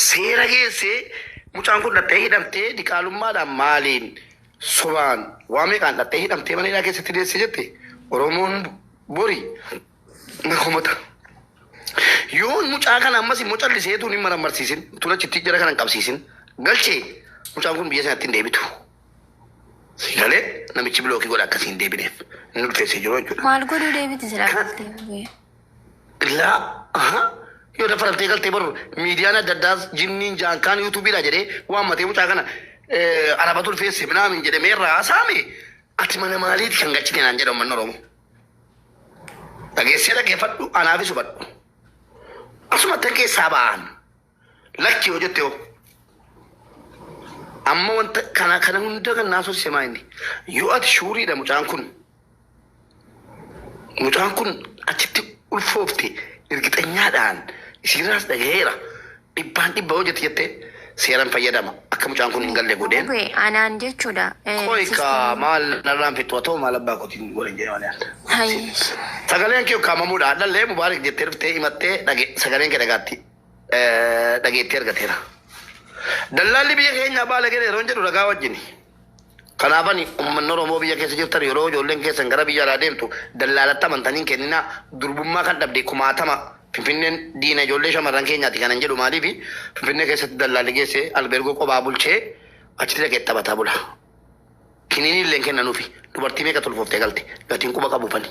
seera geessee mucaan kun dhaqxee hidhamtee diqaalummaadhaan maaliin sobaan waa meeqaan dhaqxee hidhamtee mana hidhaa keessatti deesse jette Oromoon bori na komata. Yoo mucaa kana ammas immoo callisee tuun hin marammarsiisin tuun achitti jara kana hin qabsiisin galchee mucaan kun biyya sanatti hin deebitu. Siigalee namichi bilookii godha akkasii hin deebineef inni ulfeessee jiru jechuudha. Maal godhuu deebiti silaa galtee? Laa aha yoo daffaramtee galtee bar miidiyaan adda addaas jinniin jaan kaan yuutuubiidha jedhee waammatee mucaa kana eh, arabatu ulfeesse minaamin jedhe mee irraa haasaame ati mana maaliiti kan galchite naan jedha ummanni oromoo dhageessee dhageeffadhu anaafis hubadhu asuma tan keessaa ba'aan Lakki yoo jette hoo? Amma wanta kana kana hunda kan naasuu semaa inni. Yoo ati shuuriidha mucaan kun. Mucaan kun achitti ulfoofte irgixanyaadhaan isiirraas dhagaheera. Dhibbaan dhibba yoo jette jette seeran fayyadama. Akka mucaan kun hin galle godheen. Gube anaan jechuudha. Eh, Qoy ka sistemii. maal narraan fixu haa ta'u maal abbaa kootiin godhan jedhee malee adda. Hai. Sagaleen kee ukkaamamuudha. Hadhallee mubaarik jettee dhuftee himattee dhage sagaleen kee dhagaatti. eh, dhageettii argateera. Dallaalli biyya keenyaa baalageera yeroo jedhu ragaa wajjini. Kanaafani uummanni Oromoo biyya keessa jirtan yeroo ijoolleen keessan gara biyya alaa deemtu dallaalatti amantanii hin kenninaa durbummaa kan dhabde kumaatama Finfinneen diina ijoollee shamarran keenyaati kanan jedhu maaliifi Finfinnee keessatti dallaalli geessee albeergoo qophaa bulchee achitti dhaqee taphataa bula. Kiniinii illee hin kennanuufi. Dubartii meeqatu ulfooftee galte. Gatiin quba qabu kani.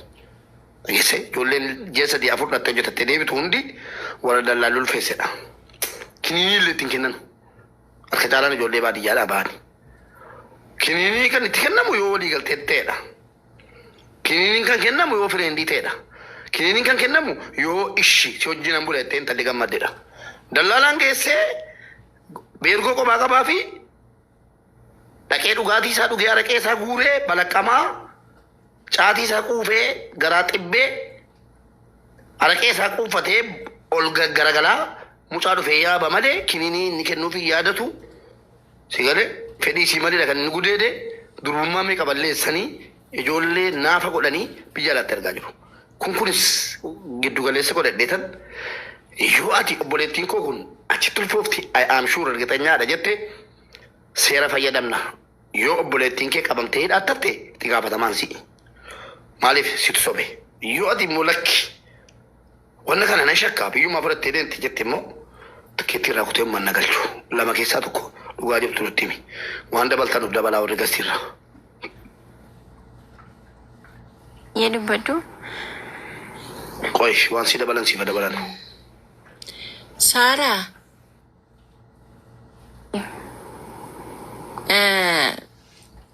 Dhageesse ijoolleen ji'a sadii afur dhattee hojjetattee deebitu hundi warra dallaalli ulfeessedha. Kiniinii illee itti hin kennanu. Harka caalaan ijoollee baadiyyaadhaa bahani. Kiniinii kan itti kennamu yoo walii galtee ta'edha. Kiniiniin kan kennamu yoo fireendii ta'edha. Kiniiniin kan kennamu yoo ishi si wajjin an bula jettee intalli gammaddedha. Dallaalaan geessee beergoo qophaa qabaa fi Dhaqee dhugaatii isaa dhugee araqee isaa guuree balaqqamaa caatii isaa quufee garaa xibbee araqee isaa quuffatee ol garagalaa mucaa dhufee yaaba malee kininii inni kennuuf hin yaadatu si galee fedhii isii malee kan inni gudeede durbummaa meeqa balleessanii ijoollee naafa godhanii biyya alaatti ergaa jiru. Kun kunis giddu galeessa godhadheetan yoo ati obboleettiin koo kun achitti ulfoofti I am sure ergixanyaadha jette seera fayyadamna. Yoo obboleettiin kee qabamtee hidhaatti hafte itti gaafatamaan si'i. Maaliif situ sobe. Yoo ati immoo lakki wanna kana nan shakka biyyumaa fudhattee deemti jette immoo tikkeettii irraa kutee ummanna galchu. Lama keessaa tokko dhugaa jirtu nutti himi. Waan dabaltan nuuf dabalaa warri gastiirraa. Yee dubbadhu. Qoy waan si dabalan sifa dabalan. Saaraa. Eh,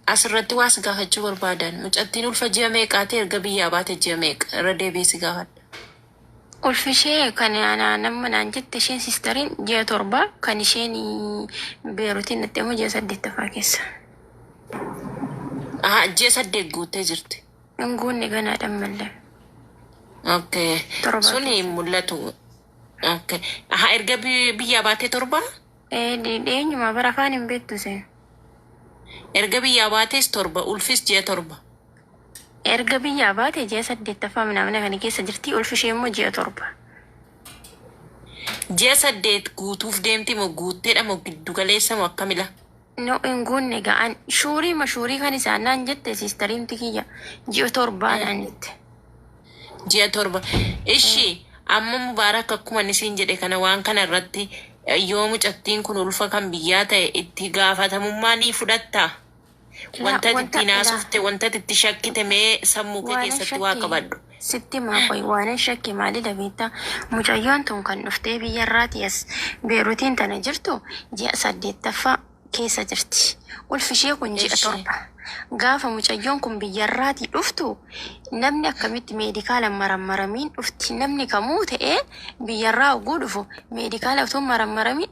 Asirratti waa si gaafachuu barbaadan. Mucattiin ulfa ji'a meeqaati erga biyyaa baate ji'a meeqa irra deebi'ee si gaafadha. Ulfishee kan anaa namma naan jette isheen siistariin ji'a torba kan isheen beerutiin dhatte immoo ji'a saddeettaffaa keessa. Aha, ji'a saddeet guuttee jirti. Hin guunne ganaa dhammallee. Okay. Torba Suni keessa. hin mul'atu. Okay. Aha, erga bi- biyyaa baatee torba? Ee dhi- dhiyeenyuma bara afaan hin beektu isheen. Erga biyyaa baatees torba, ulfis ji'a torba. Erga biyyaa baate ji'a saddeettaffaa minaamina kana keessa jirti. Ulfi ishee immoo ji'a torba. Ji'a saddeet guutuuf deemti moo guutteedha moo giddu galeessa moo akkamila? No hin guunne ga'an. Shuurii ma shuurii kan isaan naan jette siistariin tikiyya. Ji'a torbaa naan jette. Ji'a torba. Ishi amma Mubaarak akkuma inni siin jedhe kana waan kana irratti yoo mucattiin kun ulfa kan biyyaa ta'e itti gaafatamummaa ni fudhattaa? Wanta ati ittiin haasofte, wanta ati itti shakkite mee sammuu kee keessatti waa qabadhu. Sitti himaa qoyi waanan shakke maalidha beektaa? Mucayyoon tun kan dhuftee biyya irraatii as Beerutiin tana jirtu ji'a saddeettaffaa keessa jirti. Ulfishee kun ji'a torba. Gaafa mucayyoon kun biyya irraatii dhuftu namni akkamitti meedikaala hin marammaramiin dhufti? Namni kamuu ta'ee biyya irraa hogguu dhufu meedikaala utuu hin marammaramiin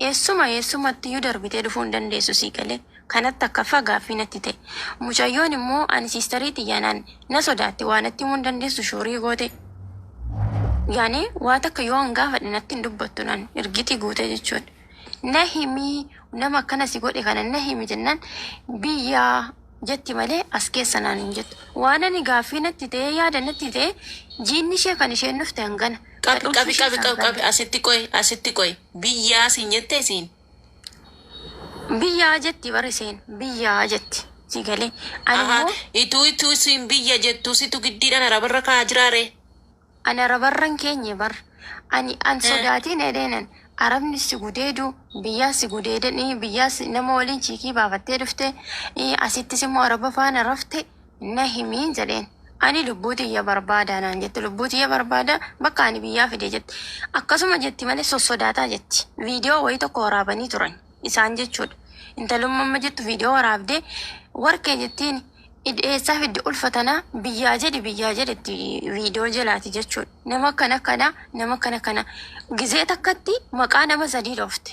Eessuma eessumattiyyuu darbitee dhufuu hin dandeessu sii galee? Kanatti takkaffaa gaaffii natti ta'e. Mucayyoon immoo ani sisterii tiyya naan na sodaatti waa natti himuu hin dandeessu shuurii goote. Yaani waa takka yoo an gaafadhe natti hin dubbattu naan irgitii guute jechuudha. Na himi nama akkana si godhe kana na himi jennaan biyyaa jetti malee as keessa naan hin jettu. Waan ani gaaffii natti ta'ee yaada natti ta'e jiinni ishee kan isheen dhufte hangana. Qabi qabi qabi qabi qabi asitti qoyi asitti qoyi biyyaa siin jette isiin. Biyyaa jetti bar isheen biyyaa jetti si galee ani Ahaa immoo ituu ituu isiin biyya jettuu situ giddiidhaan arabarra kaa'aa jiraa ree. Ani arabarra hin keenye bar. Ani an sodaatiin edheenan arabni si gudeedu biyyaa si gudeedan ii biyyaa si nama waliin chiikii baafattee dhufte ii asittis immoo araba faana rafte na himi jedheen. Ani lubbuu tiyya barbaada naan jette lubbuu tiyya barbaada bakka ani biyyaa fide jette. Akkasuma jetti malee sossodaataa jetti. Viidiyoo wayii tokko waraabanii turan isaan jechuudha. Intalumma amma jettu viidiyoo waraabdee warqee jettiini. Id eessaa fidde ulfa tana biyyaa jedhi biyyaa jedhetti video jelaati jechuun nama akkana kana nama akkana kana gizee takkatti maqaa nama sadii dhoofte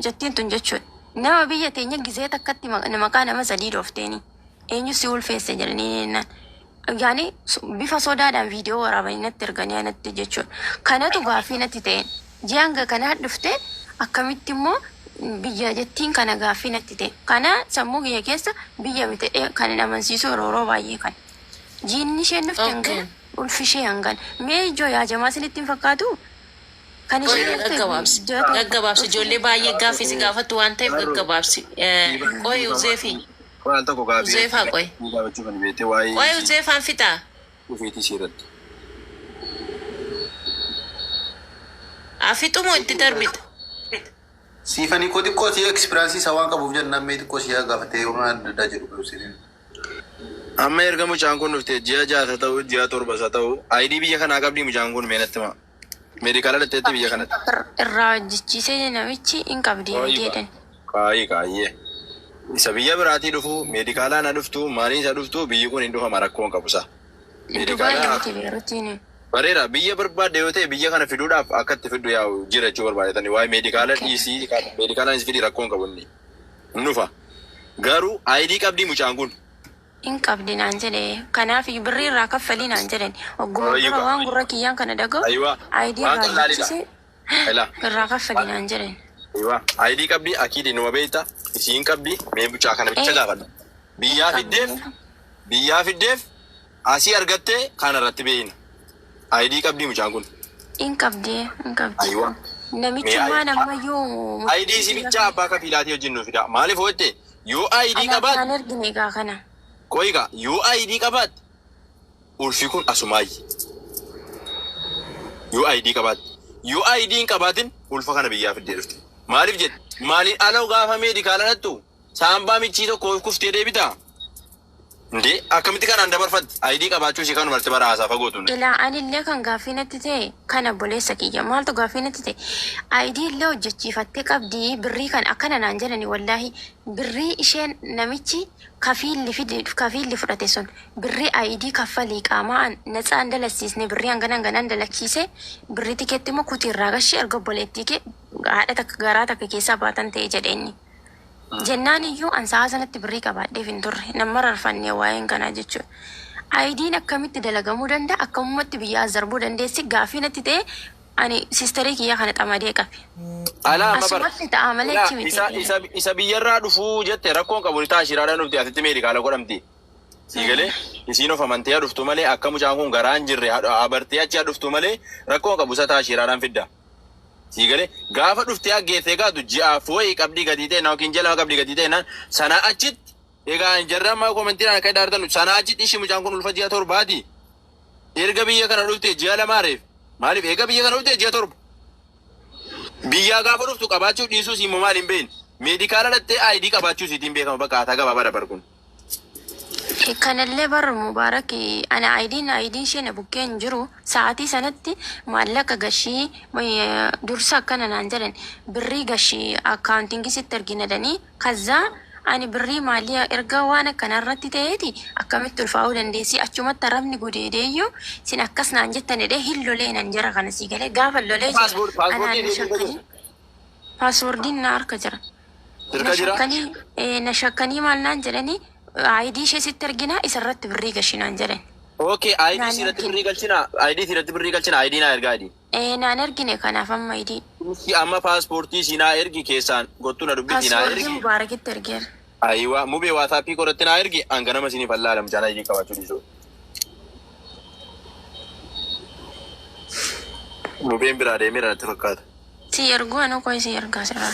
jattiin tun jechuun nama biyya teenya gizee takkatti ma- maqaa nama sadii dhoofteeni eenyu si ulfeesse jedhanii jennaan yaani so- bifa sodaadhaan video waraabanii natti erganii anatti jechuun kanatu gaaffii natti ta'een Ji'a hanga kanaa dhufte akkamitti immoo biyya jettiin kana gaaffii natti ta'e. Kana sammuu kiyya keessa biyya miti jedhee kanin amansiisu yeroo yeroo baay'ee kana. Jiinni isheen dhufte hangana, ulfi ishee hangana. Mee ijoo yaa jamaa isinitti hin fakkaatuu? Kan isheen Qoyii dhufte gaggabaabsi. ji'a tokko. Gaggabaabsi. Ijoollee baay'ee gaaffii si gaafattu waan ta'eef gaggabaabsi. Qoyii Uzeefi. Qoyii al tokko gaaffii. Uzeefaa qoyi. Gaafachuu kan beektee waa'ee. Qoyii Uzeefaan fixaa. dhufeetii sii irratti. Haa fixu moo itti darbita. Siifani koo xiqqoo sii experience isaa waan qabuuf jennaan mee xiqqoo sii haa gaafatee waan adda addaa jedhu garuu siifin. Amma erga mucaan kun dhufte ji'a ja'a isa ta'u ji'a torba isa ta'u ID biyya kanaa qabdii mucaan kun mee natti himaa. Meedikaala dhaqxeetti biyya kanatti. Ir- irraa hojjechiisee namichi hin qabdi Qaayi miti jedhan. qaayi qaayyee. Isa biyya biraatii dhufu meedikaalaa na dhuftu maalii isa dhuftu biyyi kun hin dhufama rakkoon qabu isaa. Dubaay Meedikaalaa miti beerutiin. bareera biyya barbaadde yoo ta'e biyya kana fiduudhaaf akka itti fiddu yaa'u jira jechuu barbaadetani waa'ee meedikaala Okay. dhiisii meedikaalaan is fidii rakkoon qabu inni. Hin dhufa. Garuu ayidii qabdii mucaan kun. hin qabdi naan jedhe kanaafiyyu birrii irraa kaffali naan jedhani wagguma dura waan gurra kiyyaan kana dhaga'u ID irraa buqqise irraa kaffali naan jedhani. ID qabdi akiid inuma beekta isii hin qabdi mee mucaa kana bicha gaafadhu biyyaa fiddeef biyyaa fiddeef asii argattee kaana irratti beeyna. ID qabdii mucaan kun? In qabdi in qabdi. Aywa. Namichummaan ammayyuu ID si bichaa abbaa kafiilaatii wajjin nuuf fidaa. Maaliif hojjette? Yoo ID Anaaf qabaatte naan ergine egaa kana. qoyi gaa yoo ID qabaatte ulfi kun asumaayyi. Yoo ID qabaatte. Yoo ID hin qabaatin ulfa kana biyyaa fiddee dhufte. Maaliif jette? Maaliin ala gaafa meedikaala dhattu saambaa michii tokko kuftee deebitaa? Indee akkamitti kanaan dabarfatti ID qabaachuu ishii kanuma irratti bara haasaa fagoo tun. Ilaa anillee kan gaaffii natti ta'e kan obboleessa kiyya maaltu gaaffii natti ta'e ID illee hojjechiifattee qabdi birrii kan akkana naan jedhani wallaahi birrii isheen namichi kafiilli fide kafiilli fudhate sun birrii ID kaffalii qaamaa an natsaa hin dalaksiisne birrii hangana hangana hin dalaksiise birrii tikeetti immoo kuti irraa gashi erga obboleettii kee haadha takka garaa takka keessaa baatan ta'e jedhe inni. Jennaan iyyuu an sa'aa sanatti birrii qabaadheef hin turre. Nan mararfanne waa'een kanaa jechuun. Ayidiin akkamitti dalagamuu danda'a? Akkamumatti biyyaa as darbuu dandeessi? Gaaffii natti ta'ee ani sisterii kiyyaa kana xamadee qabe. Alaa amma bar. Asumatti ta'a malee Alaa achi miti. isa isa isa biyyarraa dhufuu jette rakkoon qabu ni ta'a shiraadhaan dhufti asitti meedikaala godhamti. Sii galee isiin of amantee haa dhuftu malee akka mucaan kun garaa hin jirre haa haa bartee achi haa dhuftu malee rakkoon qabu isa ta'a shiraadhaan fidda. Sii galee gaafa dhuftee aggeesse egaa du ji'aaf wayii qabdii gadii ta'e naa yookiin jalama qabdii gadii ta'e naan sanaa achitti egaa hin jarraa maa komentii naan akka idaartan sanaa achitti ishii mucaan kun ulfa ji'a torbaati erga biyya kana dhuftee ji'a lamaa reef maaliif eega biyya kana dhuftee ji'a torba biyyaa gaafa dhuftu qabaachuu dhiisuu sii immoo maaliin beekne meedikaala dhattee aayidii qabaachuu siitiin beekama bakka haataa gabaabaa dabar kun Kanallee bar Mubarak ana ayidiin ayidiin ishee na bukkee hin jiru sa'aatii sanatti maallaqa gashii dursa akkana naan jedhan birrii gashi accounting sitti ergina jedhanii kazzaa ani birrii maalii erga waan akkanaa irratti ta'eeti akkamitti ulfaa'uu dandeessii achumatti arabni gudeedeeyyuu sin akkas naan jettan jedhee hin lolee nan jara kana sii galee gaafa lolee Paaspoort- jedhe paaspoortii anaan ni eeguu hin shakkanii danda'u. Passwordin na harka jira. Irka Na jira? shakkanii, ee, na shakkanii maal naan jedhanii, ID ishee sitti erginaa isa irratti birrii gashi naan jedhan. Okay, ID Naan siiratti ergine. birrii galchina. ID siiratti birrii galchina. ID naa ergaa ID. Ee, naan ergine kanaaf amma ID. Ishi amma paaspoortii siinaa ergi keessaan gottu na dubbisi naa Passwordii ergi. Mubaarakitti ergeera. Ayiwaa mubee waataappii koratti naa ergi an ganama isinii fallaa alam chaanaa idii qabaachuu dhiisuu. Mubeen biraa deemera natti fakkaata. Sii erguu anuu koo isii ergaa sirraa.